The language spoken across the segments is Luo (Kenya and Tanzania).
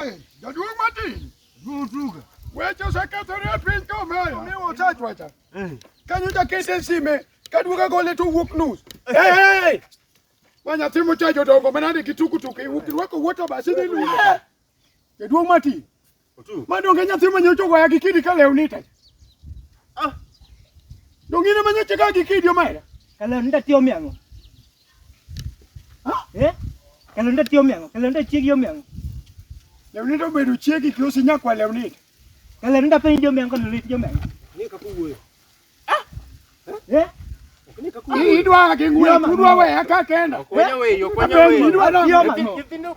Jaduong' Martin. Rutuga. Weche osekethore e piny ka omeya. Mi osachwacha. Eh. Kanyo jakete e sime kaduoga gole to wuok nus. Hey! Ma nyathi mocha jodongo manade gi tukutuku irwako wuoto basi ni lu. Eh. Jaduong' Martin. Ma donge nyathi manyocho goya gi kidi ka lewni te. Ah. Dongine manyocho ga gi kidi omera. Ka lewni te tiyo miang'o. Eh? Kalonda tiyo miango, kalonda chiegi yo miango. Lewni to bedo chiegi klosi nyakwa lewni. Kalonda penjo yo miango, kalonda tiyo miango. Ni kakuwe. Ah? Eh? Ni kakuwe. Idwa gi ngwe, udwa we aka kenda. Okonya we, okonya we. Idwa na. Nyithindo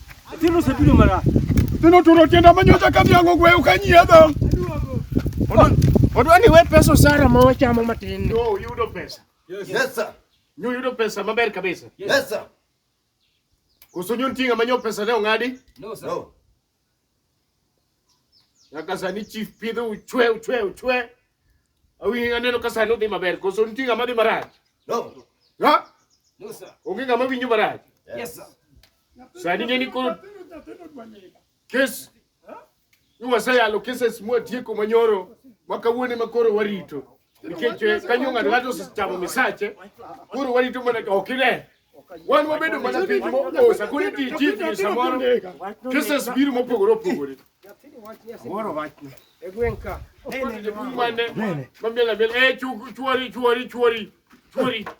Tino sebido mara. Tino turo tienda manyocha kati yango gwe ukanyiedha. Odwa ni we pesa sara ma wachamo matin. Yo yudo pesa. Yes, yes sir. Nyo yudo pesa maber kabisa. Yes sir. Kusunyo ntinga manyo pesa ne ong'adi? No sir. No. Nyaka sani chief pidho uchwe uchwe uchwe. Awi aneno ka sani odhi maber koso nitie ng'ama dhi marach. No. Ha? No sir. Onge ng'ama winjo marach. Yes sir. Sani ng'e ni koro kes ni waseyalo keses mwatieko manyoro ma kawuone ma koro warito. nikech kanyo ng'ato ng'ato osechamo misache koro warito mana ok ine wan wabedo mana piny moosa koro iti chief gi samoro kisas biro mopogore opogore Moro wachne. E gweng' ka. Mane. Mamiel amiel. Eh, chuori, chuori, chuori. Chuori.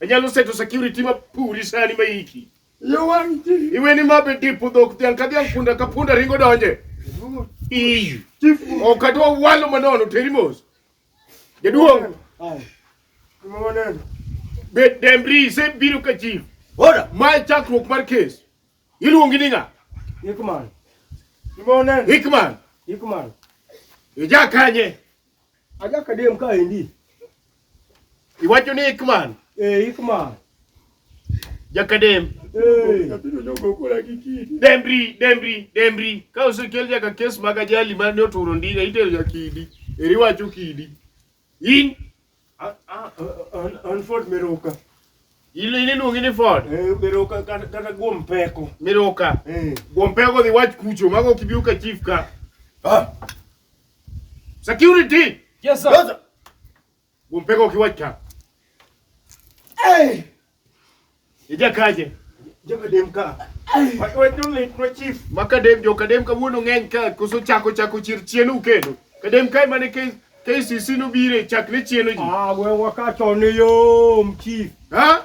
Anyalo seto security ma puri sani ma iki. Yo wang' chi. Iwe ni ma be dipo dhok dhiang' ka dhiang' punda ka punda ringo donje. Ii. Chief. Ok adwa walo manono teri mos. Jaduong'. Ai. Gima waneno. Bet Dembri se biro ka chief. Ora. Ma e chakruok mar kes. Iluongi ni ng'a? Hickman. Gima waneno. Hickman. Hickman. Ija kanye? Aja kadem ka endi. Iwacho ni Ikman? Eh, Ikman. Jakadem. Eh. Dembri, Dembri, Dembri. Ka osekel nyaka kes mag ajali ma ne oturo ndiga itero ja kidi. Eri wacho kidi. In an Ford Meroka. Ile ile luongi ni Ford. Eh, Meroka kata guom peko. Meroka. Eh. Guom peko dhi wach kucho mago kibiu ka chief ka. Ah. Security. Yes sir. Yes, sir. Gumpeka ukiwacha. Hey. Ija kaje. Joka dem ka. Wai wai tu le pro chief. Maka dem joka dem ka wuno ngeny ka kuso chako chako chir chienu kendo. Kadem kai mane kai kai sisi no bire chakre chienu ji. Ah, we wakacho ni yo chief. Ha?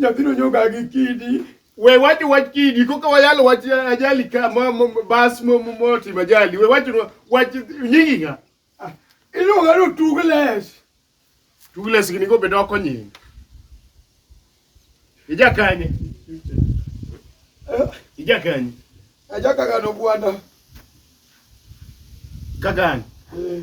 Nyathino nyoga gi kidi. We wach wach kidi koka wayalo wach ajali ka mo, mo, bas mo mo, mo timo ajali. We wach wach nyingi nga. Ah, Iluonga no tugles. Tugles gini go bedo oko nyingi. Ija kanye. Eh, Ija kanye. Ajaka gano gwanda. Kagani. Eh.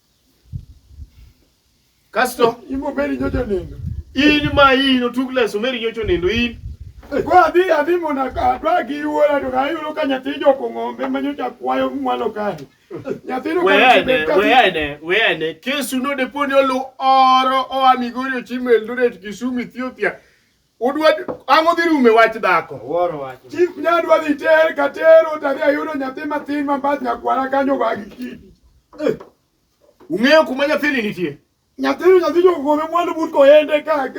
Kasto imo meri nyocho nindo. In ma in otug leso meri nyocho nindo in. Kwa adhi adhi mondo adwa gi wuora to ayudo ka nyathi joko ng'ombe ma nyocha kwayo mwalo kae. Nyathino weyane weyane weyane kesu node poni olu oro oa Migori ochimo Eldoret Kisumu Ethiopia Udwa ang'o dhi rume wach dhako? Wuoro wach. Chief nyadwa dhi ter ka tero to adhi ayudo nyathi matin ma bath nyakwara kanyo wa gi kidi. Eh. Ung'eyo kuma nyathini nitie? Nyathini nyathi jokome mwandu but koyende ka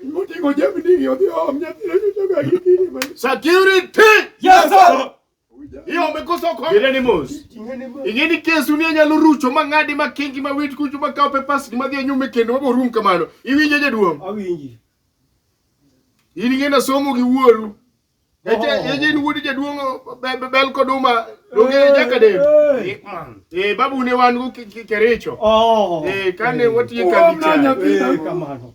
moting'o jemni odhi om nyathini joga gi kidi. Security! Yes sir! iome koso kok direni mos ing'e ni kesu ni anyalo rucho ma ng'adi ma kingi ma wit kuchu ma kawo pepas ni madhi anyume kendo mabo rum kamano iwinje jaduong' awinji in ing'e na somo gi wuoru ejin oh. wuod jaduong' bel kod uma donge eh, jaka de eh. eh babu ne wan go kericho oh. eh kane watiye kambi kamano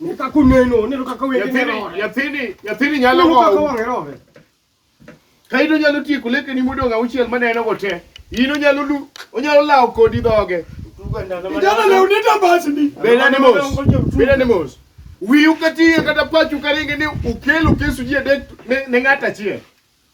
Ne ka kuneno, ne ka kawe ne rore. Yathini, yathini nyalo go. Ne ka kawe rore. Kaito nyalo tieko leke ni modonga uchiel maneno go te. Ino nyalo lu, onyalo lawo kodi dhoge. Ijana leo ni tabasi ni. Bela ni mos. Bela ni mos. Wiu kati kata pachu karinge ni ukelu kesu jie dek ne ngata chie.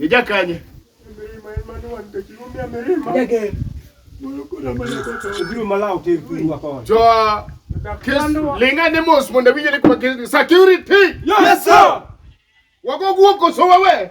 Ijakanye. Joa. Linga ne mos mondo winje ni kwa security. Yes sir. Wako guoko so wewe.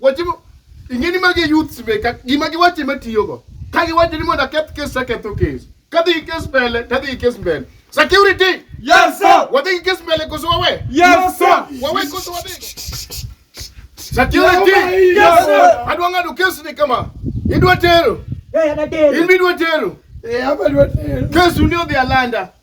Wache mo- ing'eni magi youths be ka- gima giwache matiyogo ka giwacho ni mondo aketh kes taketho kes kadhi gi kes mbele tadhi gi kes mbele security Yes, sir. wadhi gi kes mbele koso wawe Yes, sir. wawe koso wadhi security Yes, sir. adwa ng'ado kes ni kama idwa tero in be idwa tero Eh, hapa ni wateru. kesu ni odhi alanda